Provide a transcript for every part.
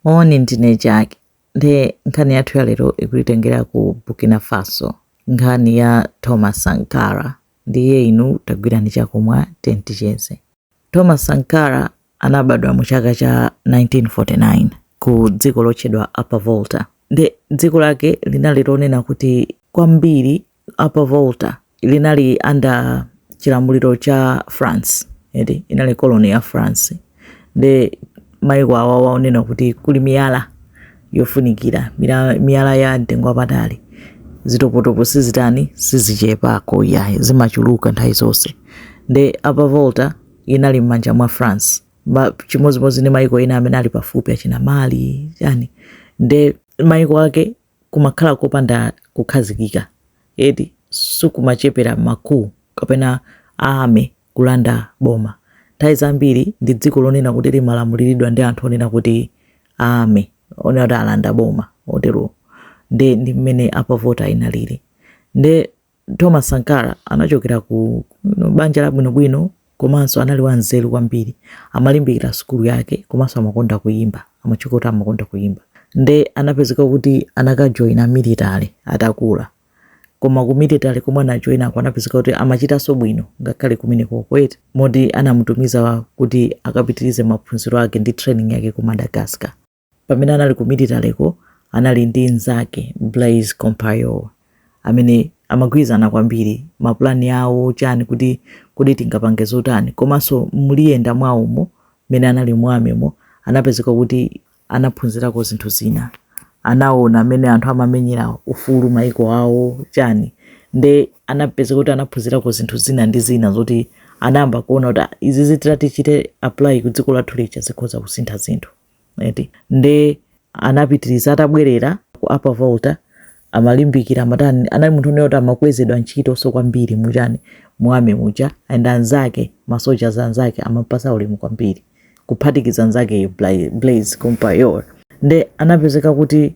Moni, ndine Jack. Nde nkhani yathu ya lero ikutitengera ku Burkina Faso. Nkhani ya Thomas Sankara. Ndiye inu tagwirani chakumwa tiye ticheze. Thomas Sankara anabadwa mu chaka cha 1949 ku dziko lotchedwa Upper Volta. Nde dziko lake linali lonena kuti kwambiri Upper Volta linali under chilamuliro cha France eti inali colony ya France nde maiko awa waonena kuti kuli miyala yofunikira mira- miyala ya mtengo wapatali zitopotopo sizitani sizichepako yayi zimachuluka nthawi zonse nde Upper Volta inali m'manja mwa France Ma- chimodzimodzi ndi maiko ena amene ali pafupi achina Mali yani nde maiko ake kumakhala kopanda kukhazikika eti sikumachepera ma coup kapena a army kulanda boma nthawi zambiri ndi dziko lonena kuti limalamuliridwa ndi anthu onena kuti a army onena kuti alanda boma otero nde ndi mmene Upper Volta inalili nde Thomas Sankara anachokera ku banja labwinobwino komanso anali wanzeru kwambiri amalimbikira sukulu yake komanso amakonda kuyimba amatchuka kuti amakonda kuyimba nde anapezeka kuti anakajoyina military atakula koma ku military komwe anajoyinako anapezeka kuti amachitanso bwino ngakhale kumeneko eti moti anamutumiza kuti akapitirize maphunziro ake ndi training yake ku Madagascar pamene anali ku military ko anali ndi mnzake Blaise Compaoré amene amagwirizana kwambiri mapulani awo chani kuti kodi tingapange zotani komanso mukuyenda mwawomo mmene anali mu army mo anapezeka kuti anaphunzirako zinthu zina anaona mmene anthu amamenyera ufulu maiko awo chani nde anapezeka kuti anaphunzirako zinthu zina ndi zina zoti anayamba kuona kuti "Ah, izi titazichita apply ku dziko lathu lija zikhoza kusintha zinthu eti nde anapitiriza atabwerera ku Upper Volta amalimbikira amatani anali munthu onena kuti amakwezedwa ntchitonso kwambiri muchani mu army muja and anzake masoja anzake amampasa ulemu kwambiri kuphatikiza nzakeyo Blaise Compaoré nde anapezeka kuti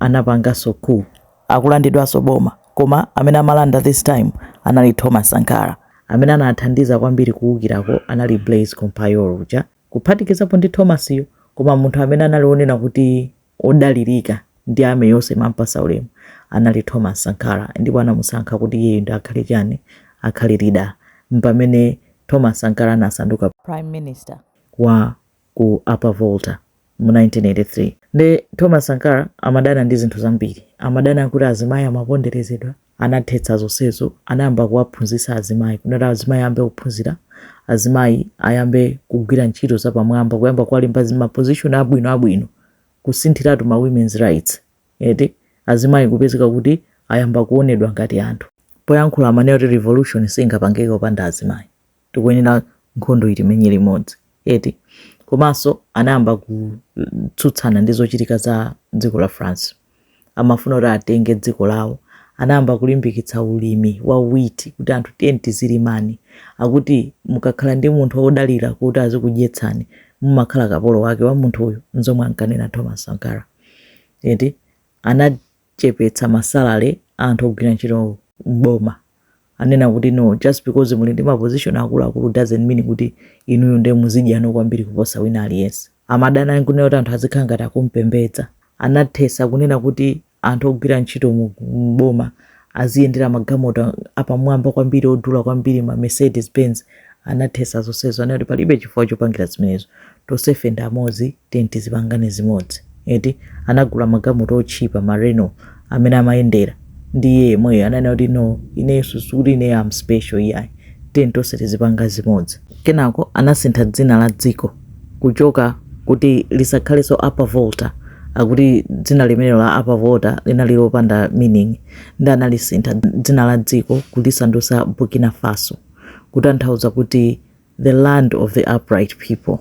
anapangaso coup kulandidwaso boma koma amene amalanda this time anali Thomas Sankara. Amene anathandiza kwambiri kuukirako anali Blaise Compaoré uja kuphatikizapo ndi Thomas yo koma munthu amene anali onena kuti odalirika ndi army yonse imampasa ulemu anali Thomas Sankara ndipo anamusankha kuti iyeyo ndi akhale chani akhale leader mpamene Thomas Sankara anasanduka prime minister wa ku Upper Volta mu 1983. Nde Thomas Sankara amadana ndi zinthu zambiri. Amadana kuti azimayi amaponderezedwa. Anathetsa zonsezo. Anayamba kuwaphunzitsa azimayi kuti azimayi ayambe kuphunzira, azimayi ayambe kugwira ntchito zapamwamba, kuyamba kuwalemba m'ma position abwino abwino, kusinthiratu ma women's rights eti. Azimayi kupezeka kuti ayamba kuonedwa ngati anthu. Poyankhula amanena kuti revolution singapangike opanda azimayi. tikuyenera nkhondoyi timenye limodzi eti komanso anayamba kutsutsana ndi zochitika za dziko la france amafuna kuti atenge dziko lawo anayamba kulimbikitsa ulimi wa wheat kuti anthu tiyeni tizilimani akuti mukakhala ndi munthu wodalira kuti azikudyetsani mumakhala kapolo wake wa munthuyo nzomwe ankanena thomas sankara eti ana chepetsa ma salary a anthu ogwira ntchito m'boma ananena kuti no just because muli ndi ma position akuluakulu doesn't mean kuti inuyo nde muzidyano kwambiri kuposa wina aliyense amadana nkunena kuti anthu azikhala ngati akumpembedza anathesa kunena kuti anthu ogwira ntchito mu- m'boma aziyendera magalimoto apamwamba kwambiri odula kwambiri ma mercedes benz Anathesa zonsezo anati kuti palibe chifukwa chopangira zimenezo tonsefe ndi amodzi tiyeni tizipangane zimodzi eti anagula magalimoto otchipa ma Renault amene amayendera ndi iye yemweyo ananena kuti no ineyo sikuti ineyo am special iyayi tiyeni tonse tizipanga zimodzi kenako anasintha dzina la dziko kuchoka kuti lisakhalenso Upper Volta akuti dzina limenelo la Upper Volta linali lopanda meaning ndi analisintha dzina la dziko kulisandusa Burkina Faso. kutanthauza kuti the land of the upright people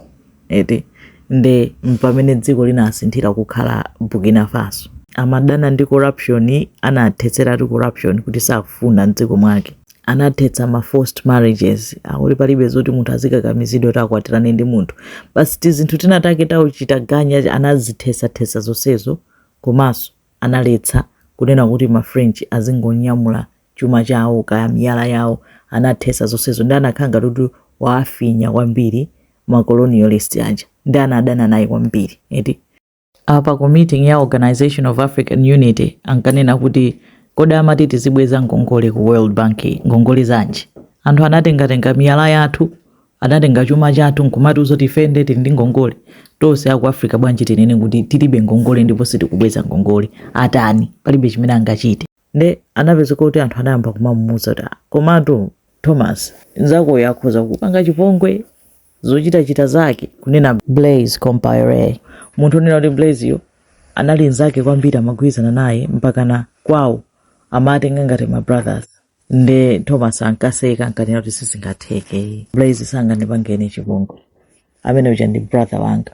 eti nde mpamene dziko linasinthira kukhala burkina faso amadana ndi corruption anathetseratu corruption kuti sakufuna mdziko mwake anathetsa ma forced marriages akuti palibe zoti munthu azikakamizidwa kuti akwatirane ndi munthu basi tizinthu tinatake tauchita ganya anazithetsathesa zonsezo komanso analetsa kunena kuti ma french azingonyamula chuma chawo kaya miyala yawo anathesa zonsezo ndi anakhala ngati kuti waafinya kwambiri ma colonialist aja ndi anadana naye kwambiri eti apa ku meeting ya organization of african unity ankanena kuti kodi amati tizibweza ngongole ku world bank ngongole zanji anthu anatengatenga miyala yathu anatenga chuma chathu nkumati nzoti ife nde tili ndi ngongole tonse aku africa bwanji tinene kuti tilibe ngongole ndipo sitikubweza ngongole atani palibe chimene angachite nde anapezeka kuti anthu anayamba kumamuuza kuti "Ah, komatu thomas nzakoyo akhoza kukupanga chipongwe zochitachita zake kunena blaise compaore munthu onena kuti blaiseyo anali nzake kwambiri amagwirizana naye mpakana kwawo amatenga ngati ma brothers nde thomas ankaseka ankanena kuti sizingatheke blaise sangandipange chipongwe amene uja ndi brother wanga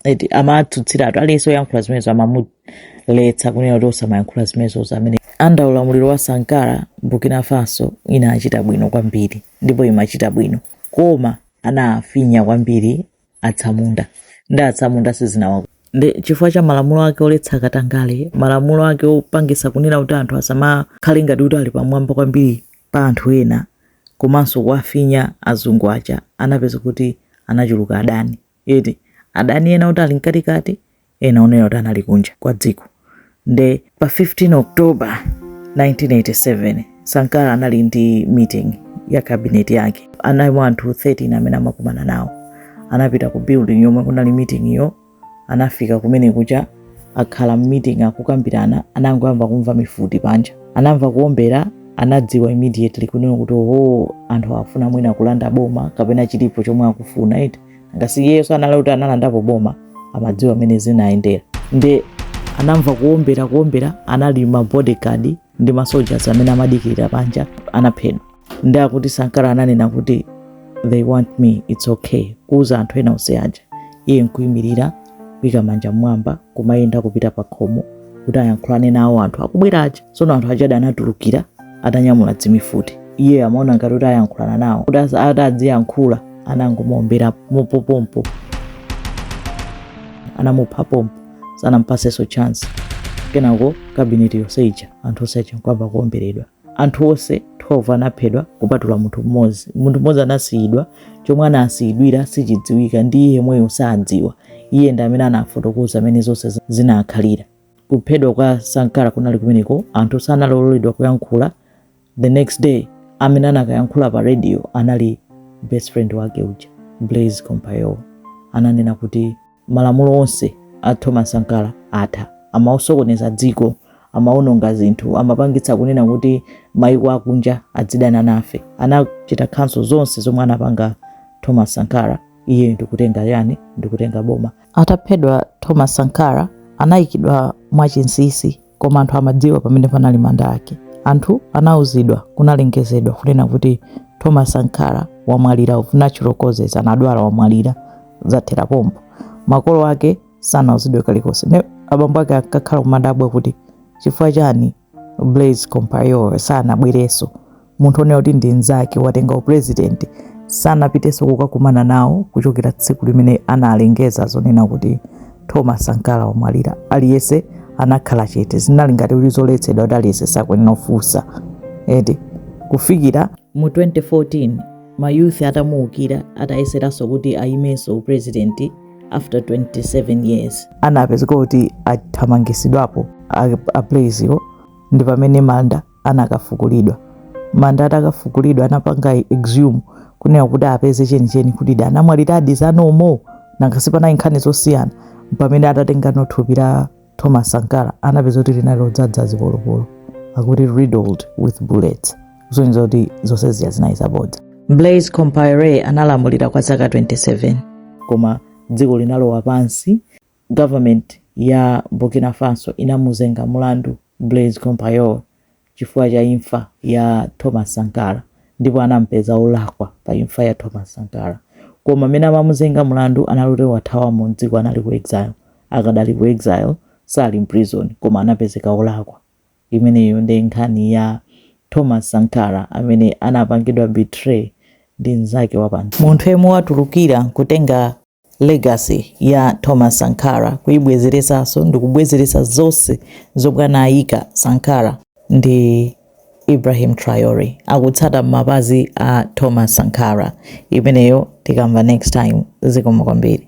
eti amatsutsiratu aliyense oyankhula zimenezo amamuletsa kunena kuti osamayankhula zimenezozo mmene under ulamuliro wa sankara burkina faso inachita bwino kwambiri ndipo imachita bwino koma anafinya kwambiri atsamunda ndi atsamunda sizinawa ndi chifukwa cha malamulo ake oletsa katangale malamulo ake opangisa kunena kuti anthu asamakhale ngati kuti ali pamwamba kwambiri pa anthu ena komanso kuwafinya azungu aja anapezeka kuti anachuluka adani eti adani ena oti ali mkatikati ena onena kuti anali kunja kwa dziko nde pa 15 october 1987 sankara anali ndi meeting ya kabineti yake analimo anthu 13 amene amakumana nawo anapita ku building yomwe kunali meeting yo anafika kumene kuja akhala mmeeting akukambirana anangoyamba kumva mifuti panja anamva kuombera anadziwa immediately kunena kuti oho anthu akufuna mwina kulanda boma kapena chilipo chomwe akufuna eti nanga si iyeso anali kuti analandapo boma amadziwa mmene zinayendera nde anamva kuombera kuombera anali ma bodyguard ndi ma soldiers amene amadikirira panja anaphedwa nde akuti sankara ananena kuti they want me its okay kuuza anthu ena onse aja iye nkuyimirira kuika manja mmwamba kumayenda kupita pa khomo kuti ayankhulane nawo anthu akubwera aja tsono anthu aja anatulukira atanyamula dzimifuti iye amaona ngati kuti ayankhulana nawo kuti as- ati adziyankhula anangomuombera mopopompo anamupha pompo sanampasenso chance kenako kabineti yonse ija anthu onse aja nkuyamba kuomberedwa Anthu onse 12 anaphedwa kupatula munthu mmodzi. Munthu mmodzi anasiyidwa. Chomwe anasiyidwira sichidziwika, ndi iye mweyo sadziwa. Iye ndi amene anafotokoza mmene zonse zinakhalira. Kuphedwa kwa Sankara kunali kumeneko, anthu sanaloledwa kuyankhula. The next day amene anakayankhula pa radio anali best friend wake uja Blaise Compaore, ananena kuti. Malamulo onse a Thomas Sankara atha. Amasokoneza dziko, amaononga zinthu, amapangitsa kunena kuti maiko akunja adzidana nafe. Anachita cancel zonse zomwe anapanga Thomas Sankara, iyeyo ndikutenga chani, ndikutenga boma. Ataphedwa Thomas Sankara, anaikidwa mwa chinsisi. koma anthu amadziwa pamene panali manda ake anthu anauzidwa kunalengezedwa kunena kuti thomas sankara wamwalira of natural causes anadwala wamwalira zathera pompo makolo ake sanauzidwe kalikonse ne abambo ake ankakhala kumadabwa kuti chifukwa chani blaise compaore sanabwerenso munthu onena kuti ndi mnzake watenga upresident sanapitenso kukakumana nawo kuchokera tsiku limene analengeza zonena kuti thomas sankara wamwalira aliyense anakhala chete zinali ngati kuti zoletsedwa kuti aliyense sakuyenera kufunsa eti kufikira mu 2014 ma youth atamuukira atayeseranso kuti ayimenso upresident after 27 years anapezeka kuti athamangisidwapo a blaise wo ndi pamene manda anakafukulidwa manda atakafukulidwa anapanga exhume kunena kuti apeze chenicheni kuti da anamwaliradi za nomo nanga sipanali nkhani zosiyana pamene atatengano thupi la thomas sankara anapeza kuti linali lodzadza zipolopolo akuti riddled with bullets kusonyeza kuti zonse zija zinali zabodza blaise compaore analamulira kwa zaka 27 koma dziko linalowa pansi Government ya Burkina Faso inamuzenga mulandu Blaise Compaore chifukwa cha imfa ya Thomas Sankara ndipo anamupeza olakwa pa imfa ya Thomas Sankara koma mene amamuzenga mulandu anali oti wathawamo mdziko anali ku exile akadali ku exile sali mprison koma anapezeka olakwa imeneyo nde nkhani ya Thomas Sankara amene anapangidwa betray ndi mzake wapa munthu yemwe watulukira kutenga Legacy ya Thomas Sankara kuibwezeresaso ndikubwezeresa zose zomwe anayika Sankara ndi Ibrahim Traore akutsata mapazi a Thomas Sankara imeneyo tikamva next time zikomo kwambiri